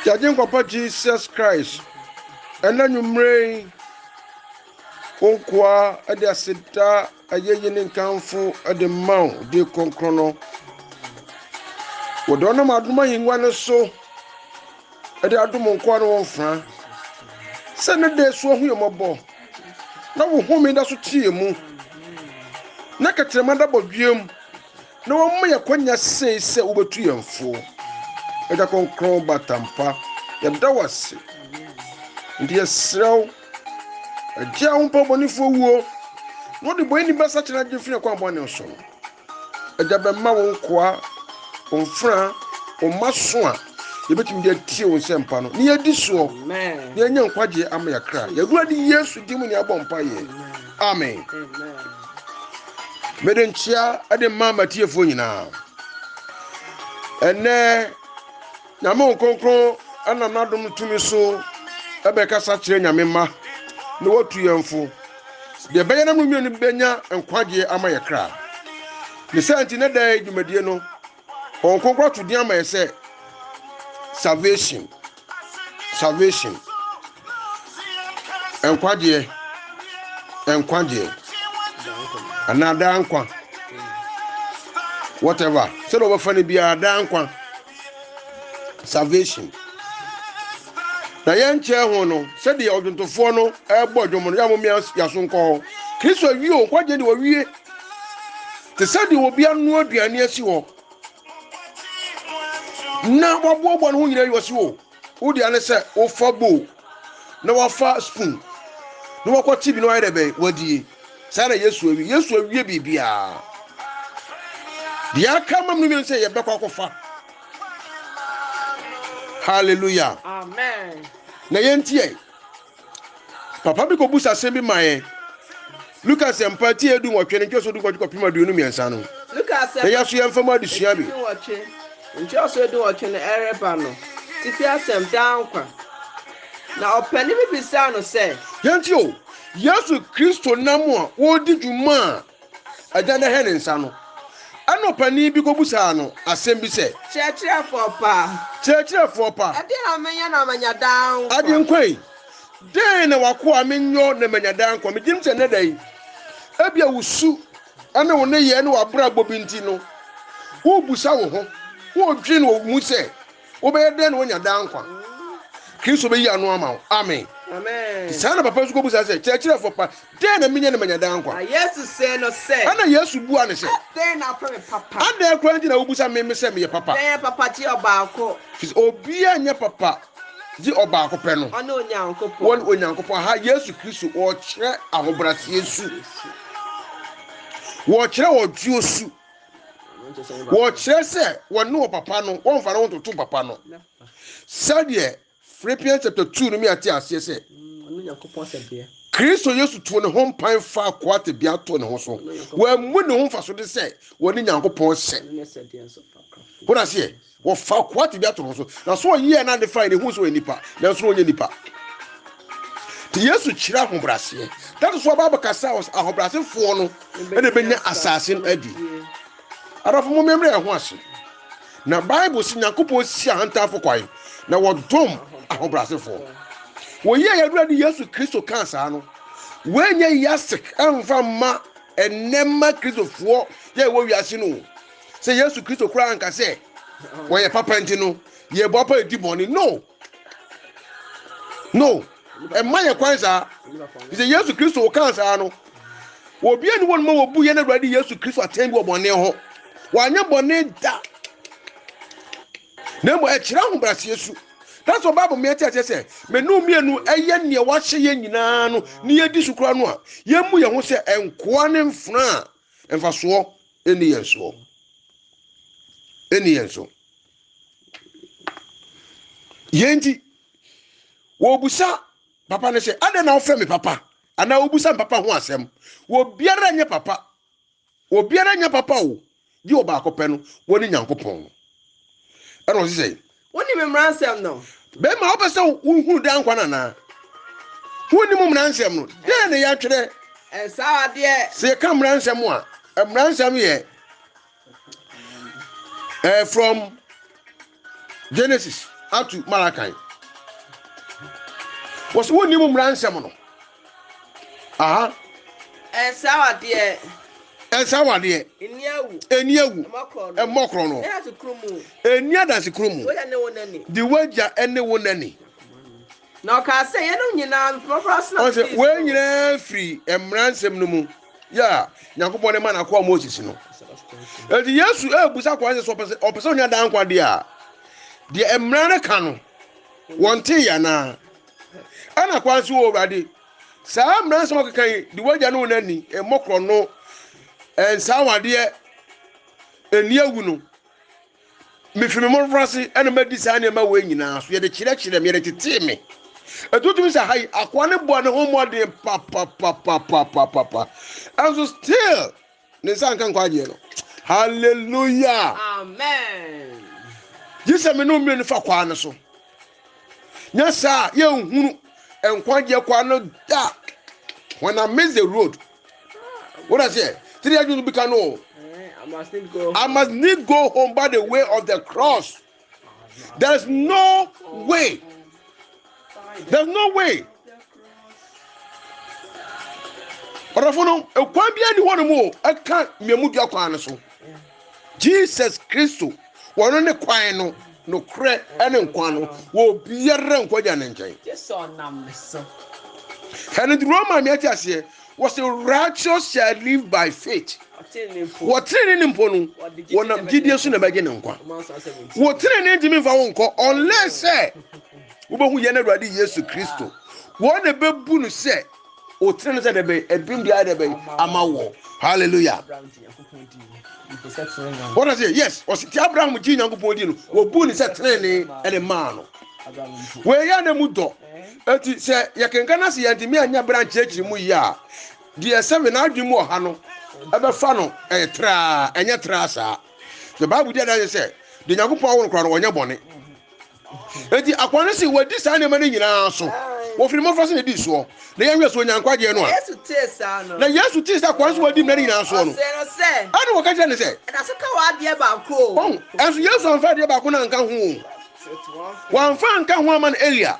Yɛagye nkwapa Jesus Christ. Ɛna nwummere yi, wo nkoa de aseda ayɛyi ne nkamfo de ma wo de kronkron no. Wɔde ɔnam adom ahengua no so de adom nkoa no wɔn mfra. Sɛ ne da so ahu yɛn mmɔbɔ, na wo home da so teɛ mu, na kɛtrɛma da bɔdweam. na wɔma yɛ kwanya sei sɛ wobɛtu yɛn foɔ. Agya Kronkron Batampa, yɛda wo ase. Nti yɛserɛ wo, Agya a wompa bɔnefoɔ wuo, na wode bɔneni bɛ sakyera agye firi akwan bɔne so no, Agya bɛma wo nkoa, wo mfra, wo mma so a yɛbɛtumi de atie wo nsɛmpa no, na yɛadi soɔ, na yɛanya nkwagyeɛ ama yɛakra. Yɛwurade Yesu din mu ne abɔ mpa yɛ. Amen. Mede nkyea de ma m'atiefoɔ nyinaa. Ɛnɛ, Nyame Nkonkron ɛnam n'adom tumi so ɛbɛkasa kyerɛ Nyame mma na wɔtu yɛn fo. Deɛ ɛbɛyɛ na mmienu bɛnya nkwagyeɛ ama yɛ kra. Ne sɛ nti ne da yɛ dwumadie no, Wɔn Nkonkron ato din ama yɛ sɛ salvation. salvation, nkwagyeɛ, nkwagyeɛ, anaa daa nkwa, whatever, sɛdeɛ wɔbɛfa no biara daa nkwa, salvation. Na yɛnkyɛɛ ho no, sɛdeɛ ɔdwontofoɔ no ɛbɔ dwom no, yɛamom yɛaso nkɔ hɔ. Kristo awie o, nkwagyeɛ de wɔwie. Te sɛ deɛ obi anoa aduane asi hɔ, na waboaboa ne ho nyinaa yi wɔsi o wodi ane sɛ wofa bowl na wafa spoon na wakɔ tv na wayɛ dɛ bɛn wadie saa na yesu awie yesu awie biribiara deɛ aka mam no mmienu sɛ yɛbɛkɔ akɔfa hallelujah amen na yɛntiɛ Papa bi kɔbusa asɛm bi ma yɛn. Luka Nsɛmpa ti edu nwɔtwe no nkyerɛso du kɔtwe kɔpem aduonu mmiɛnsa no. Luka Nsɛmpa yɛn so yɛmfa mu adesua bi. Nwɔtwe, nkyerɛso edu nwɔtwe no ɛreba no tifi asɛm daa nkwa. Na ɔpanin bi bisaa no sɛ. Yɛntie o, Yesu Kristo nam a wɔredi dwuma a Agya no hɛ ne nsa no. Ɛnna ɔpanin bi kɔbisaa no asɛm bi sɛ. Kyerɛkyerɛfoɔ pa. Kyerɛkyerɛfoɔ pa. Ɛdeɛn na menyɛ na manya daa nkwa? Agyenkwa yi, dɛn na w'akoa menyɔ na manya daa nkwa? Megye di sɛ nnɛ da yi, ebia wo su ne wo nneyɛɛ ne w'abrabɔ bi nti no, worebisa wo ho, woredwene wɔ wo mu sɛ, Wobɛyɛ dɛn na woanya daa nkwa? Kristo bɛyi ano ama wo. Amen. Amen. Saa na papa nso kɔbisa sɛ, Kyerɛkyerɛfoɔ pa, dɛn na menyɛ na manya daa nkwa? Na Yesu see no sɛ. Ɛna Yesu buaa no sɛ. Adɛn na wofrɛ me papa? Adɛn koraa nti na wobisa me me sɛ meyɛ papa? Dɛn yɛ papa gye ɔbaako? Ɛfiri sɛ obiara nyɛ papa gye ɔbaako pɛ no. Ɔne Onyankopɔn. Wɔne Onyankopɔn. Aha Yesu Kristo ɔrekyerɛ ahobrɛaseɛ su. Wɔrekyerɛ ɔdwoɔ su. wɔkyerɛ sɛ wɔne wɔ papa no wɔmfa no ntoto papa no sɛdeɛ philippians chapter two no mi ate aseɛ sɛ kristo yesu too ne ho mpan fa akoa tebea to ne ho so wɔammu ne ho mfaso de sɛ wɔne nyankopɔn sɛ wode aseɛ Wɔfaa akoa tebea too no so, na so ɔyɛɛ a na ade fine, ehuu sɛ ɔyɛ nipa, nanso na ɔnyɛ nipa. Nti Yesu kyerɛ ahobrɛaseɛ. That is why Bible ka sɛ ahobrɛasefoɔ no na ɛbɛnya asase no adi. Adɔfo mo mmemmere ɛho ase. Na Bible si Nyankopɔn si ahantanfo kwan, na wɔdom ahobrɛasefoɔ. Wɔyi a yɛwura de Yesu Kristo kaa saa no, wɔnyɛ yasek ɛmfa mma ɛnɛma Kristofoɔ yɛ ɛwɔ wiase no. sɛ yesu kristo koraa anka sɛ wɔyɛ papa nti no yɛbɔ pa ɛdi bɔne no no ɛma yɛ kwan saa fi sɛ yesu kristo wokaa saa no obi ani wɔn ma wɔbu yɛn awurade yesu kristo atɛn bi wɔ bɔne ho wanyɛ bɔne da na mmom ɛkyerɛ ahobraseɛ su that's why bible mmea kyerɛ sɛ menu mmienu ɛyɛ nea wahyɛ yɛn nyinaa no ne yɛdi so kora no a yɛmmu yɛn ho sɛ nkoa ne mfena a Mfasoɔ ɛni yɛn soɔ. Ɛni yɛn so. Yɛn ti, wɔbusa papa no sɛ, adɛn na wofrɛ me papa? Anaa wɔbusa papa ho asɛm. Wɔbiara nyɛ papa. Wɔbiara nyɛ papa o. Gye ɔbaako pɛ no, wɔne Nyankopɔn no. Ɛna ɔse sɛ, Wonni me mmaransɛm no. Bɛrima, wopɛ sɛ wohunu daa nkwa no anaa? Wonni mo mmaransɛm no. Dɛn na yɛatwerɛ? Ɛnsa adeɛ. Sɛ yɛka mmaransɛm a, mmaransɛm yɛ eh, from Genesis up to Malachi. Wɔsɛ wonni mo mmaransɛm no. Aha. Ɛnsa awadeɛ. Ɛnsa awadeɛ. Ɛni awu. Ɛni awu. Ɛmmɔ korɔ no. Ɛni adanse kuro mu. De wagya ne wo nani. Na ɔkaa sɛ yɛnom nyinaa mmɔbra so na ɔsɛ wɔn nyinaa firi mmara nsɛm no mu yɛ a nyankopɔn de ma n'akoa moses no eti yesu ebusa akoa sɛ ɔpɛ sɛ ɔpɛ sɛ ɔnya daa nkwa deɛ a deɛ mmara no ka no wɔn te yɛ anaa ɛna kwan so wɔ awurade saa mmara nsɛm ɔkeka yi de wagya ne wo n'ani mmɔ korɔ no nsaa wadeɛ ɛni awu no mefiri me mmɔfra ase ɛna madi saa nneɛma wɔ nyinaa so yɛde kyerɛkyerɛ me yɛde tetee me ɛtutumi sɛ ha yi akoa ne boa ne ho mmɔden papapapapapapa ɛnso still ne nsa nka nkwagyeɛ no hallelujah amen gye sɛ me ne mmiri no fa kwaa no so nyɛ saa yɛnhunu nkwagyeɛ kwaa no da when i miss the road what i say tiri adwene bi ka no i must need go home by the way of the cross There's no way. There's no way. ɔdɔfo no ekwan bi ani hɔ no mu ɛka mmienu dua kwan no so jesus kristo wɔn ne kwan no nokorɛ ɛne nkwa no wɔ obiara nkwa gya ne nkyɛn ɛne duro ma mi ate aseɛ was a righteous shall live by faith wɔ tenene ne mpo no wɔnam gyidie so na ɛbɛgye ne nkwa wɔ tenene ntumi mfa wo nkɔ unless sɛ wobɛhu yɛn awurade yesu kristo wɔn na ɛbɛbu no sɛ ɔtene no sɛ dɛ bɛn ɛdom biara dɛ bɛn ama wɔ hallelujah wɔn na sɛ yes ɔsi ti abraham gye nyankopɔn di no wɔbu ne sɛ tenene ɛne maa no wɔyɛ na mu dɔ Enti sɛ yɛkenka na sɛ yɛntumi anya bere ankyerɛkyerɛ mu yie a, deɛ sɛ wena adwene mu wɔ ha no ɛbɛfa no ɛyɛ traa, ɛnyɛ traa saa. The Bible di adanse sɛ deɛ Nyankopɔn awo no koraa no ɔnyɛ bɔne. Enti akoa no se wɔadi saa nneɛma no nyinaa so, wɔfiri mmɔfra se na ɛdii soɔ, na yɛn nso ɔnya nkwagyeɛ no a. Na Yesu tee sɛ akoa no so wɔadi mmara no nyinaa soɔ no, ɛna wɔka kyerɛ no sɛ. Ɛnso Yesu amfa adeɛ baako no anka ho. wɔamfa anka ho ama no eyi a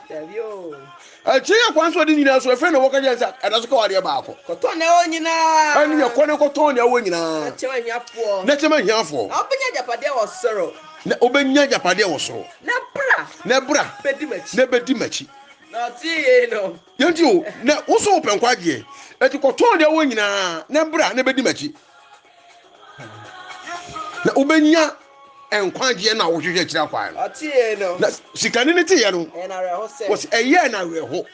akyire yɛ kwan so ɔde nyinaa so ɛfɛ na wɔka kyerɛ sɛ ɛda so ka wɔ adeɛ baako kɔtɔ nea ɛwɔ nyinaa ɛne yɛ kɔ ne kɔtɔ nea ɛwɔ nyinaa na kyɛm ahiafoɔ na kyɛm ahiafoɔ na wobɛnya agyapadeɛ wɔ soro na wobɛnya agyapadeɛ wɔ soro na bra na bra bɛdi m'akyi na bɛdi m'akyi na ɔtee yei no yɛnti o na wo so wopɛ nkwagyeɛ ɛti kɔtɔ nea ɛwɔ nyinaa na bra na bɛdi m'akyi na wobɛnya nkwagyeɛ no a wohwehwɛ akyiri akwan no na sikani no teeɛ no wɔsi ɛyɛɛ no awerɛho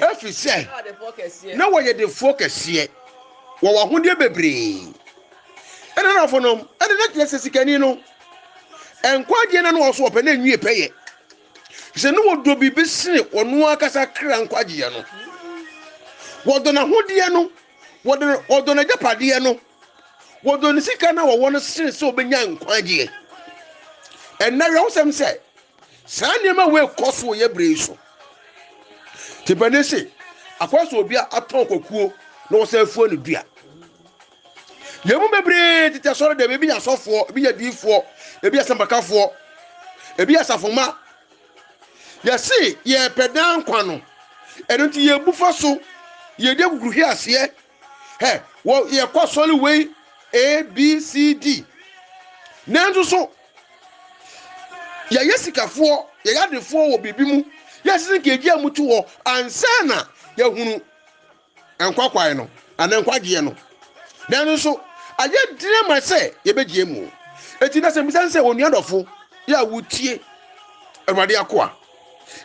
ɛfiri sɛ na wɔyɛ defoɔ kɛseɛ wɔwɔ ahodeɛ bebree ɛna nafo nom ɛne na kyerɛ sɛ sikani no nkwagyeɛ no na wɔso wɔpɛ na ɛnwie pɛyɛ sɛ ne wɔdɔ biribi sene ɔno ankasa kra nkwagyeɛ no wɔdɔ n'ahodeɛ no wɔde wɔdɔ n'agyapadeɛ no wɔdɔ ne sika no a wɔwɔ no sene sɛ wɔbɛnya nkwagyeɛ ɛnna werɛhosɛm sɛ saa nneɛma wei kɔ so wɔ yɛ berɛ yi so tipani se akɔyɛ sɛ obi atɔn kwakuo na wɔsan afuo ne dua yɛn mu bebree tete asɔre dɛm ebi yɛ asɔfoɔ ebi yɛ diifoɔ ebi yɛ sɛmpakafoɔ ebi yɛ asafoma Yɛse yɛpɛ daa nkwa no, ɛno nti yɛbu fa so, yɛdi akukuru hwe aseɛ. Hɛ, wɔ yɛkɔ asɔre wei ABCD. Nanso so yɛyɛ sikafoɔ, yɛyɛ adefoɔ wɔ biribi mu, yɛsese nka yɛgye amutu hɔ ansa na yɛhunu Nkwa kwan no, anaa nkwagyeɛ no. Nanso so ayɛ den ama sɛ yɛbɛgyeɛ mu? Enti na sɛmmisa ne sɛ, Onua dɔfo, yɛ a wotie Awurade akoa,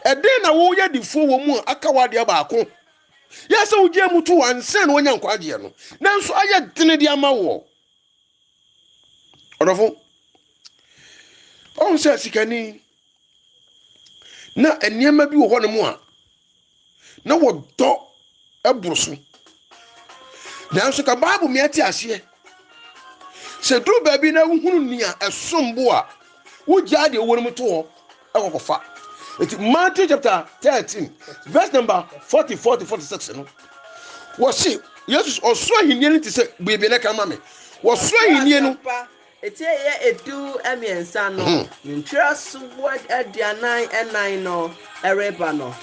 ɛdɛn na woyɛ adifoɔ wɔ mu a aka w'adeɛ baako? Yɛ a sɛ wogyeɛ mu too ansa na woanya nkwagyeɛ no, nanso ayɛ den de ama woɔ. Ɔdɔfo, ɔhu sɛ sikani na nneɛma bi wɔ hɔ nom a na wɔdɔ boro so nanso ka bible mi ate aseɛ sɛ duru baabi na wohunu nea ɛsom bo a wogyaa deɛ wɔn mu to hɔ ɛwɔ kɔfa nti matthew chapter thirteen verse number forty four to forty six no wɔsi yesus ɔsoro ahinie no ti sɛ biribi na ɛka ma mi wɔsoro ahinie no. eti ɛyɛ edu mmiɛnsa no hmm. ntwerɛ so wɔ aduanan ɛnan no ɛreba no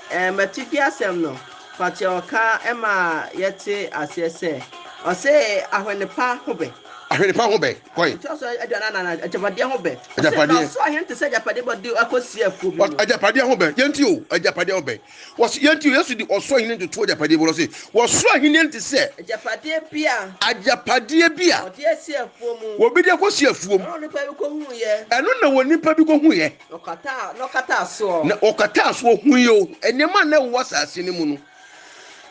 ɛmɛti di asɛm no fakyɛ ɔka ɛma yɛte aseɛ sɛ ɔsɛ ahwɛnipa ho bɛ. ahwɛnipa ho bɛ. Kɔe. Ɛtoa so aduanan anan no, agyapadeɛ ho bɛ. Ɔsɛ, Agyapadeɛ. Na ɔsoro ahene te sɛ agyapadeɛ bɔ de akɔsie akuo bi Ɔs- mu. agyapadeɛ ho bɛn yɛnti o agyapadeɛ ho bɛn wɔs yɛnti o yesu de ɔsoro ahenni ntoto agyapadeɛ bi wɔse wɔsoro ahenni nte sɛ Agyapadeɛ bi a agyapadeɛ bi a ɔde asie afuo mu. obi de akɔsi afuom Ɛno na onipa bi kɔhuiɛ, ɛno na wɔn nipa bi kɔhuiɛ na ɔkataa, na ɔkataa soɔ. na ɔkataa so ɔhui o nneɛma a na ɛwɔ asase no mu no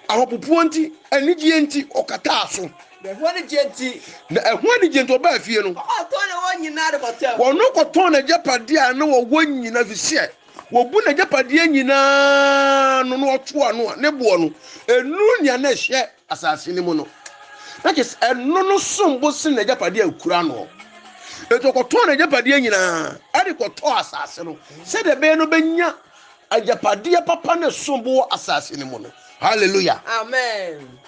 Ahopopoɔ nti, anigyeɛ nti, ɔkataa so. Na ɛho anigyeɛ nti. Na ɛho anigyeɛ nti, ɔbaa fie no. Ɔkɔtɔn na wɔn nyinaa de kɔtɛm. Wɔn kɔtɔn n'agyapadeɛ a na wɔwɔ nyinaa fi sɛ wɔbu n'agyapadeɛ nyinaa no na wɔto ano a ne boɔ no ɛnuru nea na ɛhyɛ asase no mu no na kyɛ sɛ ɛno no som bo sen n'agyapadeɛ a ɛkura noɔ ɛti ɔkɔtɔn n'agyapadeɛ nyinaa ɛde kɔtɔɔ asase no sɛdeɛ ɛbɛyɛ no bɛnya Agyapadeɛ papa ne som bo wɔ asase no mu no. Hallelujah. Amen.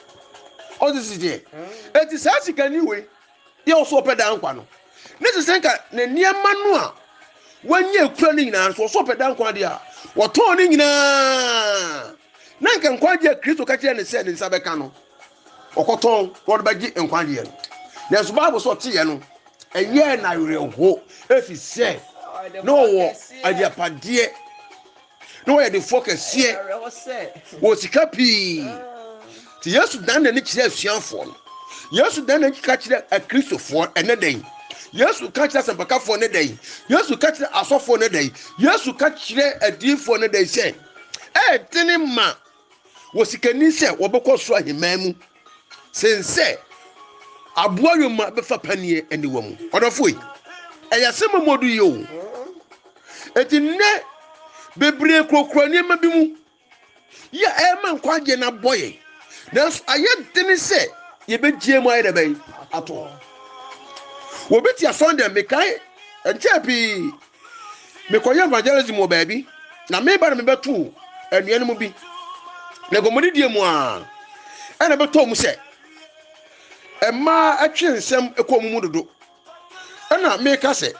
Ɔte siteɛ. Mm. Eti saa sikani wei yɛ ɔsɔ ɔpɛ daa nkwa no. Ne sɛ sɛ nka ne nneɛma no a wanya ekura ne nyinaa nso ɔsɔ ɔpɛ daa nkwa deɛ a wɔtɔn ne nyinaa. Na nka nkwagye a Kristo ka kyerɛ ne sɛ ne nsa bɛka no ɔkɔtɔn na ɔde bɛgye nkwagyeɛ no nanso bible sɛ ɔteeɛ no ɛyɛɛ n'awerɛho ɛfiri sɛ na ɔwɔ agyapadeɛ na ɔyɛ defoɔ kɛseɛ wɔ sika pii nti yesu dan n'ani kyerɛ asuafoɔ no yesu dan n'ani ka kyerɛ akristofoɔ ɛnɛ dɛn yesu ka kyerɛ asɛmpakafoɔ ne dɛn yesu ka kyerɛ asɔfoɔ ne dɛn yesu ka kyerɛ adiyifoɔ ne dɛn sɛ ɛɛdene ma wɔ sikani sɛ wɔbɛkɔ so ahemman mu sen sɛ aboa yoma bɛfa paneɛ aniwa mu ɔdɔfo yi ɛyɛ asɛm a mu ɔdo yie o eti nnɛ bebree kurakura nneɛma bi mu yɛ ɛma nkwagye na bɔ yɛn nanso ayɛ dene sɛ yɛbɛgyie mu ayɛ dɛ bɛn ato wɔbɛti asɔn dɛm mekae nkyɛn pii mekɔyɛ evangelism wɔ baabi na meba na mebɛto anua no mu bi na nkɔmmɔdidie mu a ɛna bɛtɔ mu sɛ mmaa atwe nsɛm kɔ mu mu dodo ɛna meka sɛ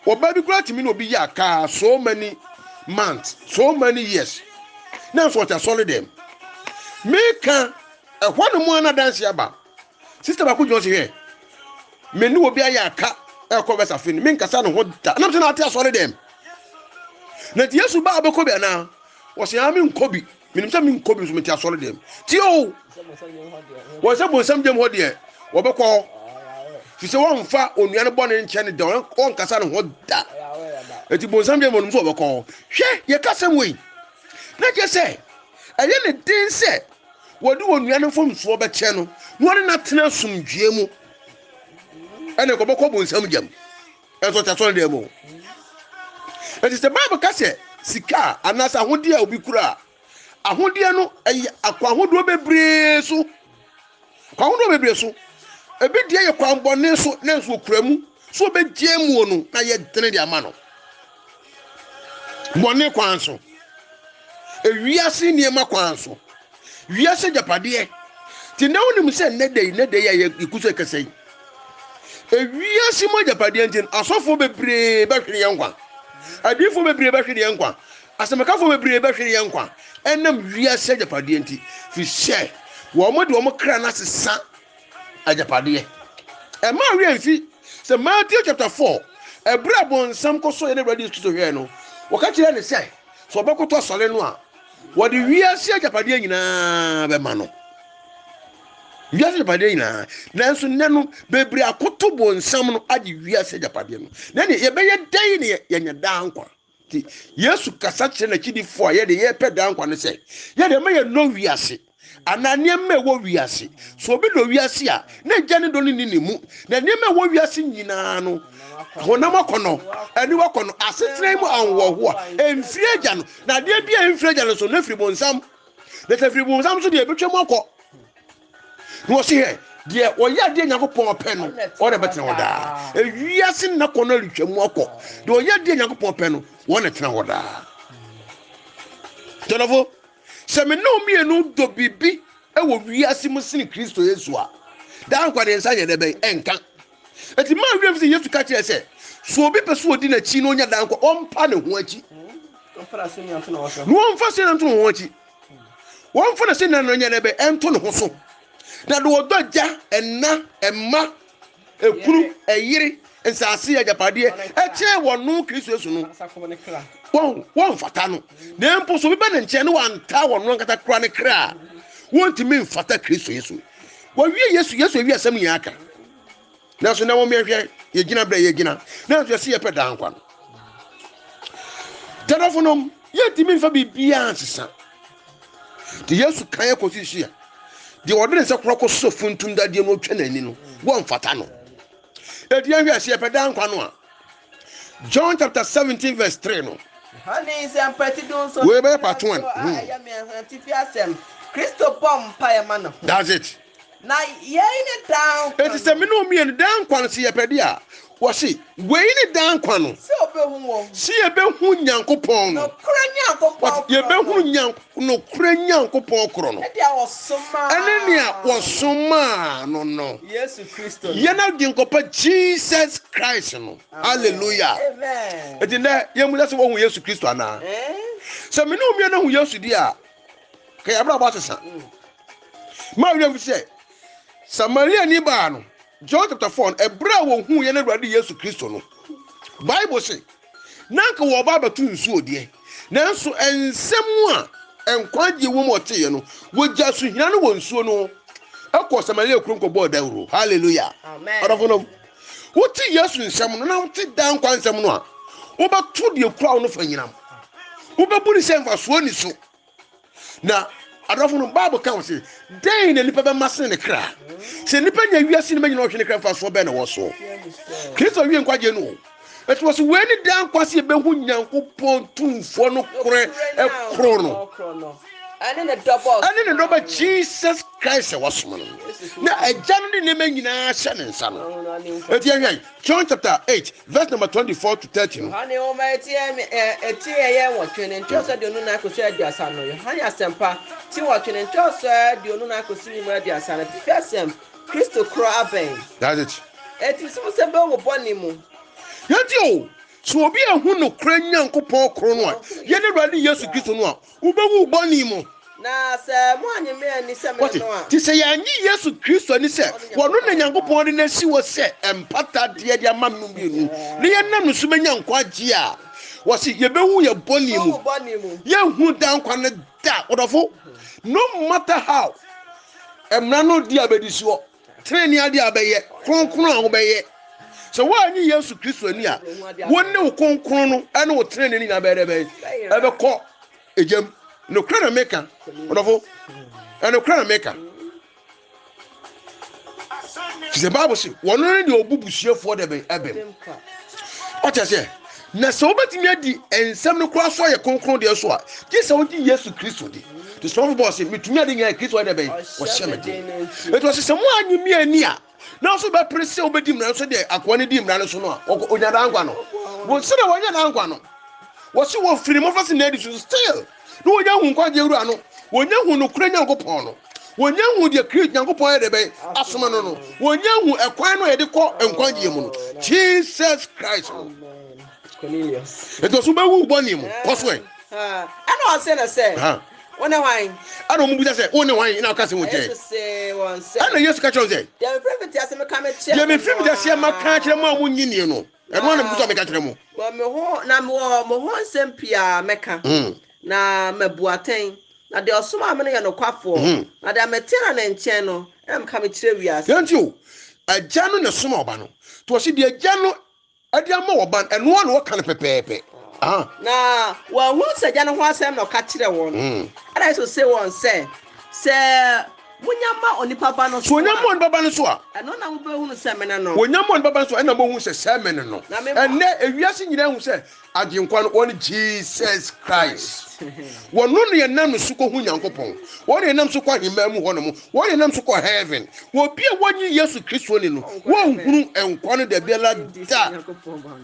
ɔbaa bi koraa tumi na obi yɛ akaa so many months so many years na nso ɔte asɔre dɛm meka ɛhɔ nom a na danse aba Sista baako gyina hɔ se, Hwɛ, me ne obi ayɛ aka ɛkɔ wɛsa fe no, menkasa ne ho da. Nam sɛ na ate asɔre dɛm. Na nti Yesu baa bɛkɔ bi anaa? Wɔse, aa menkɔ bi. Menim sɛ menkɔ bi nso mete asɔre dɛm. Tie o! Wɔn sɛ bonsam gyam hɔ deɛ, wɔbɛkɔ hɔ. Fi sɛ wɔmfa onua no bɔne nkyɛ ne da, wɔnkasa ne ho da. Eti bonsam gyam wɔnom sɛ wɔbɛkɔ hɔ. Hwɛ, yɛka sɛm wei. Na kyerɛ sɛ, ɛyɛ ne den sɛ wɔde onua no mfomsoɔ bɛkyɛ no na ɔne no atena asomdwoeɛ mu ɛne kɔbɛkɔ bonsam gyam ɛnso ɔte asɔre dɛm o ɛti sɛ bible ka sɛ sika a anaasɛ ahodeɛ a obi kura a ahodeɛ no ɛyɛ akɔ ahodoɔ bebree so Kwan ahodoɔ bebree so. Ebi deɛ yɛ kwan bɔne so nanso wɔkura mu sɛ wɔbɛgye amuo no na yɛ dene de ama no. Bɔne kwan so. Ewiase nneɛma kwan so. Wiase agyapadeɛ. Te na wonim sɛ nnɛ da yi nnɛ da yi a yɛku so ɛkɛsɛ yi. Ewiase mu agyapadeɛ nti asɔfoɔ bebree bɛhwere yɛn nkwa. Adiifoɔ bebree bɛhwere yɛn nkwa. Asɛmpakafo bebree bɛhwere yɛn nkwa ɛnam wiase agyapadeɛ nti, firi sɛ wɔn de wɔn kra no asesa agyapadeɛ. Ɛmma werɛ mfi sɛ Matthew chapter 4, ɛberɛ a bonsam kɔ so yɛ n'Awurade Yesu Kristo hwɛɛ no, wɔka kyerɛɛ no sɛ, sɛ ɔbɛkoto asɔre no a, wɔde wiase agyapadeɛ nyinaa bɛma no. Wiase agyapadeɛ nyinaa. Nanso nnɛ no, bebree akoto bonsam no agye wiase agyapadeɛ no. Na ɛne yɛbɛyɛ dɛn na yɛanya daa nkwa? Nti, Yesu kasa kyerɛ n'akyidifo a yɛde yɛpɛ daa nkwa no sɛ, yɛde ɛma yɛ nɔ wiase anaa nneɛma ɛwɔ wiase. So obi dɔ wiase a, na agya ne dɔ no nni ne mu. Na nneɛma ɛwɔ wiase nyinaa no, honam akɔnɔ, aniwa akɔnɔ, asetena mu ahoɔhoɔ a ɛmfiri agya no, na adeɛ bi a ɛmfiri agya no so, na ɛfiri bonsam. Na sɛ ɛfiri bonsam so deɛ, ɛbɛtwam akɔ. na ɔsi hɛ deɛ ɔyɛ adeɛ nyankopɔn pɛ no wɔn na bɛtena hɔ daa ewiase nna kɔ no retwa mu akɔ deɛ ɔyɛ adeɛ nyankopɔn pɛ no wɔn na tena hɔ daa tɔlɔfo sɛ me ne wo mmienu dɔ biribi wɔ wiase mu sene kristo yesu a daa nkwa ne nsa yɛ dɛ bɛn ɛnka eti maa wiem sɛ yesu ka kyerɛ sɛ so obi pɛ so odi n'akyi na onya daa nkwa ɔmpa ne ho akyi na ɔmfa so nyanto ne ho akyi wɔmfa no sɛ na no nyɛ bɛ ɛnto ne ho so na de ɔdɔ agya ɛna ɛma ɛkunu ɛyere nsase agyapadeɛ ɛkyɛn wɔn no kristo yesu no wɔn wɔmfata no na mpo so bɛbɛ ne nkyɛn ne wɔanta wɔn no ankasa kora ne kra a wɔntumi mfata kristo yesu wɔwie yesu yesu awie asɛm nyinaa ka nanso na wɔn yɛhwɛ yɛgyina berɛ yɛgyina nanso yɛsi yɛpɛ daa nkwa no tɛdɔfo nom yɛntumi nfa biribiara nsesa te yesu kan yɛ kɔsi hyia deɛ ɔde ne nsa kora kɔ so funtum dadeɛ no ɔtwa n'ani no wɔmfata no ɛti yɛhwɛ ɛsɛ yɛpɛ daa nkwa no a john chapter 17 verse 3 no wei bɛyɛ part 1 hmm. kristo bɔ mpaeɛ ma ne ho that's it Na yei ne daa nkwa no. Enti sɛ me ne wo mmienu daa nkwa no, sɛ yɛpɛ de a, wɔse, wei ne daa nkwa no. Sɛ obehu wɔn. Sɛ yɛbɛhu Nyankopɔn no. Nokorɛ Nyankopɔn korɔ no. Yɛbɛhunu Nyank, nokorɛ Nyankopɔn korɔ no. Ne deɛ wɔsomaa. Ɛne nea wɔsomaa no no. Yesu Kristo no. Yɛn Agyenkɔpa Jesus Christ no. Halleluya! Amen. Enti nnɛ, yɛmmisa sɛ woahu Yesu Kristo anaa? Sɛ me ne wo mmienu ahu Yesu deɛ a. ka yɛn abrabɔ asesa ma awia mu sɛ samariani baa no john chapter four no ɛberɛ a wɔhuu yɛn awurade yesu kristo no bible se na anka wɔba abɛto nsuo deɛ nanso nsɛm a nkwagye wɔ mu ɔteeɛ no wɔgya so hina no wɔ nsuo no ɛkɔ samaria kurom kɔbɔɔ dawuro halleluya ɔdɔfo nom wote yesu nsɛm no na wote daa nkwa nsɛm no a wobɛto deɛ kura wo no fa nyinam wobɛbu ne sɛ mfasoɔ ni so na adɔfo no bible ka ho sɛ dɛn na nipa bɛma sene ne kra sɛ nipa nya wiase no bɛnyina ɔhwe ne kra mfasoɔ bɛn na wɔ so kristo wie nkwagyeɛ no ɛti wɔ so wei ne daa nkwa sɛ yɛbɛhu nyankopɔn tumfoɔ no korɛ ɛkorɔ no ɛne ne dɔba jesus christ sɛ wɔsom no na agya no de nneɛma nyinaa hyɛ ne nsa no ɛti ɛhwɛ john chapter 8 Verse number 24 to 30 no. Yohane Nwoma eti a eti a ɛyɛ nwɔtwe ne nkyerɛwsɛ aduonu nnan kosi aduasa no. Yohane Asɛmpa, ti nwɔtwe ne nkyerɛwsɛ aduonu nnan kosi ne mu aduasa no. Atifi asɛm, Kristo korɔ abɛn. That's it. Eti sɛ wosɛ bɛ wɔ bɔne mu. Yɛnti o, sɛ obi anhu nokorɛ Nyankopɔn korɔ no a, yɛne Awurade Yesu Kristo no a, Wubewu wo bɔne mu. Na sɛ moannye me anni sɛ mene no a. Te sɛ yɛannye Yesu Kristo anni sɛ ɔno na Nyankopɔn de no asi hɔ sɛ mpatadeɛ de ama no mmienu, na yɛnam ne so bɛnya nkwagyeɛ a, wɔse, yɛbɛwu yɛn bɔne mu. Yɛnhunu daa nkwa no da. Ɔdɔfo, no matter how, mmara no di a bɛdi soɔ. Trenee ade a bɛyɛ, kronkron a wobɛyɛ. Sɛ woanyi Yesu Kristo ani a, wo ne wo kronkron no ne wo trenee no nyinaa bɛyɛ dɛ bɛn? Ɛbɛkɔ egyam. Nokorɛ na meka, ɔdɔfo, ɛnokorɛ na meka. Fisɛ Bible se, wɔno ne deɛ ɔbu busuafoɔ dɛ bɛn ɛbɛm. Ɔte aseɛ? Na sɛ wobɛtumi adi nsɛm no koraa so ayɛ kronkron deɛ so a, gye sɛ wogye Yesu Kristo di. Nti somafo Paul se, metumi ade nyinaa Kristo ayɛ dɛ bɛn? Wɔhyɛ me den. Enti ɔse sɛ moanye me anni a, nanso wobɛpere sɛ wobɛdi mmara no so deɛ akoa no di mmara no so no a, ɔnya daa nkwa no. Wɔn sɛdeɛ wɔanya daa nkwa no, wɔse wɔfiri ne mmɔfra se na adi so still. na wɔnya hu nkwagyeɛ wura no, wɔnya hu nokorɛ Nyankopɔn no, wɔnya hu deɛ Kri Nyankopɔn yɛ dɛbɛn asoma no no, wɔnya hu ɛkwan no a yɛde kɔ nkwagyeɛ mu no, Jesus Christ no. Nti ɔso bɛwu bɔne mu, kɔ so ɛ. Ɛna ɔse no sɛ, wo ne hwan? Ɛna ɔmo bisa sɛ, wo ne hwan na ɔka sɛ wo kyɛ? Ɛna Yesu ka kyerɛ wɔn sɛ, deɛ mefiri mfitiaseɛ meka akyerɛ mo a monye nie no. Ɛno ara na mepɛ sɛ meka kyerɛ mo. Wɔ me ho, na mewɔ mo ho nsɛm pii a mɛka, na mabu atɛn, na deɛ ɔsomaa me no yɛ nokwafoɔ, na deɛ mete no ne nkyɛn no na meka mekyerɛ wiase. Deɛ nti o, Agya no na ɛsoma Ɔba no, nti ɔse deɛ Agya no de ama Ɔba no, ɛno ara na ɔka no pɛpɛɛpɛ. Na wɔahunu sɛ Agya no ho asɛm na ɔka kyerɛ wɔn. Ɛnna Yesu see wɔn sɛ. Sɛ monya ma onipa Ba no so a. Sɛ wɔnya ma onipa Ba no so a. Ɛno na mobɛhunu sɛ mene no. Wɔnya ma onipa Ba no so a, ɛnna mobɛhunu sɛ sɛ mene no. Ɛnnɛ, ewiase nyinaa ahu sɛ Agyenkwa no, ɔne Jesus Christ. Wɔno na yɛnam ne so kɔhu Nyankopɔn. Wɔno na yɛnam so kɔ ahemmaa mu hɔnom. Wɔno na yɛnam so kɔ Heaven. Obi a wannye Yesu Kristo anni no, wɔrenhunu nkwa no dabiara da.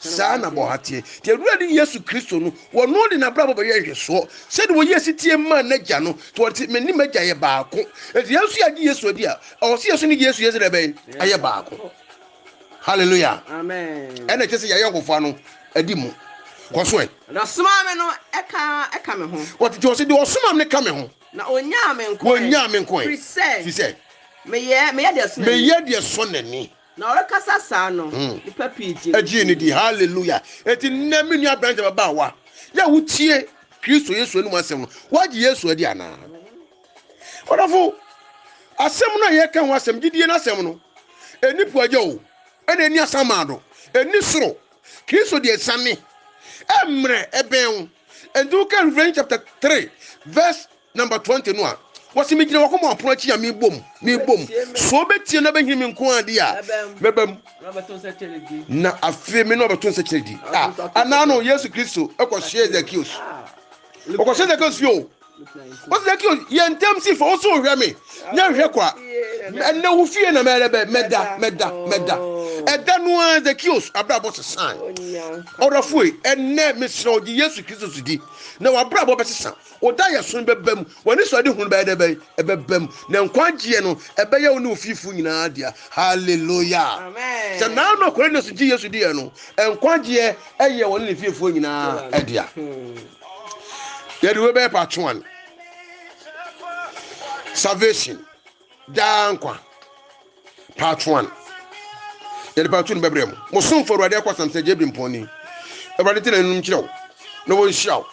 Saa na bɔ ha teɛ. Te Awurade ne Yesu Kristo no, wɔno de n'abrabɔ bɛyɛ nhwɛsoɔ, sɛdeɛ wɔyi asitie maa n'agya no, te wɔn te, me ne m'agya yɛ baako. Enti yɛn nso yɛagye Yesu adi a, ɛwɔ sɛ yɛso ne Yesu yɛ sɛ dɛ bɛn? Ayɛ baako. Hallelujah. Amen. Ɛna ɛkyɛ sɛ yɛayɛ ahofa no adi mu. Kɔ so ɛ. Na ɔsomaa me no ka ka me ho. Wɔtete ɔse deɛ ɔsomaa me no ka me ho. Na ɔnyaa me nko ɛ. Wɔnyaa me nko ɛ. Firi sɛ. Firi sɛ. Meyɛ meyɛ deɛ ɛsɔ n'ani. Meyɛ deɛ ɛsɔ n'ani. Na ɔrekasa saa no, nnipa pii gyee no dii. Gyee no dii. Hallelujah! Enti nnɛ, me nua aberante ababaawa, yɛ a wotie Kristo Yesu anum asɛm no, woagye Yesu adi anaa? Ɔdɔfo, asɛm no a yɛka ho asɛm, gyidie no asɛm no, ɛni po agya o, ɛna ɛni asamado, ɛni soro. Kristo deɛ asiane, ɛmmerɛ ɛbɛn wo. Enti woka Revelation chapter 3 verse Number twenty no a, wɔsi mi gyina wɔn kɔn apono akyi a mi bom, mi bom. So obetie na obehin mi nko adi a, mɛba mu. Na afei mi na ɔbɛto nsa kyerɛ di. A anaa no Yesu Kristo ɛkɔ hyɛ Zakios. Ɔkɔ hyɛ Zakios fi o. Ɔsi Zakios yɛ ntɛm si fɔ, ɔsi ohwɛ mi, nyɛ hwɛ kwa. Ɛnna wo fie na mɛrɛ bɛ, mɛda, mɛda, mɛda. Ɛda no ara Zakios abrabɔ sesan. Ɔdɔfoe, ɛnɛ mesrɛ wo gye Yesu Kristo so di, na w'abrabɔ bɛsesa. Wo daeɛso bɛba mu, w'anisoadehunu bɛyɛ dɛ bɛn? Ɛbɛba mu, na nkwagyeɛ no ɛbɛyɛ wo ne wo fiefo nyinaa dea. Hallelujah! Sɛ naa na Cornelius gye Yesu diiɛ no, nkwagyeɛ yɛ wɔne ne fiefo nyinaa dea. Yɛde wei bɛyɛ part one. Salvation. daa nkwa part one yɛde part two no bɛbrɛ mu mo somfo awurade akɔ asam sɛ gyebiri mpɔnni awurade te na num kyerɛ wo na wɔnhyira wo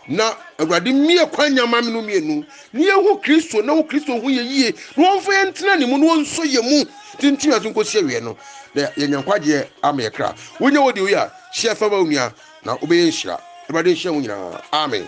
na awurade mmie kwan nyama me no mmienu ne yɛhu kristo na wo kristo ho yɛ yie na wɔmfa yɛn ntena ne mu na wɔnsɔ yɛ mu tintim ase nkɔsi awie no na yɛnya nkwagyeɛ ama yɛ kra wonya wɔ deɛ woyɛ a hyɛ fa ma wo nua na wobɛyɛ nhyira awurade nhyira mu nyinaa amen